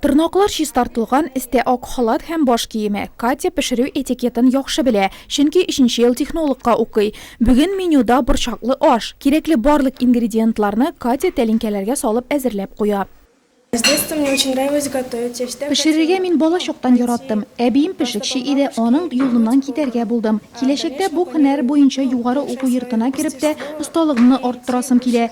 Тырнаклар чистартылган, эстә ак халат һәм баш киеме. Катя пешерү этикетын яхшы белә, чөнки өченче ел технологка укый. Бүген менюда борчаклы аш. Кирәкле барлык ингредиентларны Катя тәлинкәләргә салып әзерләп куя. Пешерергә мин бала чактан яраттым. Әбием пешекче иде, аның юлыннан китәргә булдым. Киләчәктә бу һөнәр буенча югары уку йортына кереп тә осталыгымны арттырасым килә.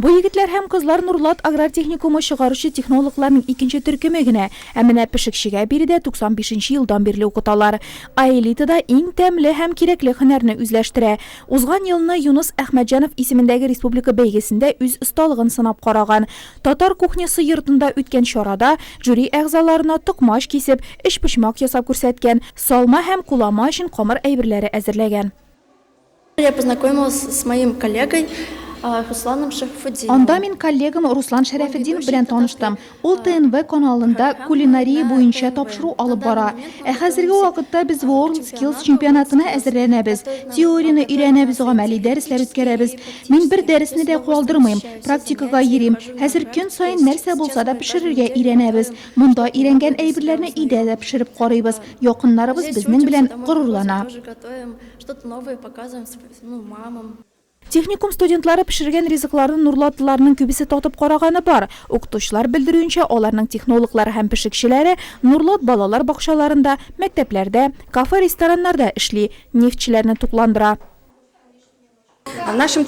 Бу егетләр һәм кызлар Нурлат аграр техникумы чыгаручы технологларның икенче төркеме генә, ә менә пешекчегә биредә 95 елдан бирле укыталар. Аэлитада иң тәмле һәм кирәкле һөнәрне үзләштерә. Узган елны Юныс Әхмәтҗанов исемендәге республика бәйгесендә үз осталыгын сынап караган. Татар кухнясы йортында үткән чарада жюри әгъзаларына токмач кисеп, өчпочмак ясап күрсәткән, салма һәм кулама өчен камыр әйберләре әзерләгән. Я познакомилась с моим коллегой Русланом Шәрәфетдиновым. Анда мин коллегам Руслан Шәрәфетдинов белән таныштым. Ул ТНВ каналында кулинария буенча тапшыру алып бара. Ә хәзерге вакытта без World Skills чемпионатына әзерләнәбез. Теорияне өйрәнәбез, гамәли дәресләр үткәрәбез. Мин бер дәресне дә калдырмыйм, практикага йөрим. Хәзер көн саен нәрсә булса да пешерергә өйрәнәбез. Монда өйрәнгән әйберләрне өйдә дә пешереп карыйбыз, якыннарыбыз безнең белән горурлана. Что-то новое показываем, ну, мамам. Техникум студентлары пешергән ризыкларны нурладыларның күбесе татып караганы бар. Укытучылар белдерүенчә, аларның технологлары һәм пешекчеләре нурлат балалар бакчаларында, мәктәпләрдә, кафе-рестораннарда эшли, нефтьчеләрне тукландыра. Безнең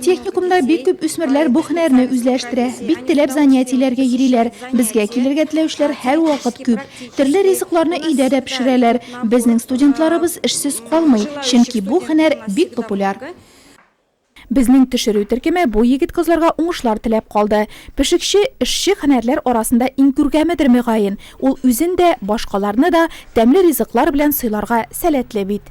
техникумда бик күп үсмерләр бу һөнәрне үзләштерә. Бик теләп занятиеләргә йөриләр. Безгә килергә теләүчеләр һәрвакыт күп. Төрле ризыкларны өйдә дә пешерәләр. Безнең студентларыбыз эшсез калмый, чөнки бу һөнәр бик популяр. Безнең төшерү төркеме бу егет-кызларга уңышлар теләп калды. Пешекче, эшче һөнәрләр арасында иң күркәмедер, мөгаен. Ул үзен дә, башкаларны да тәмле ризыклар белән сыйларга сәләтле бит.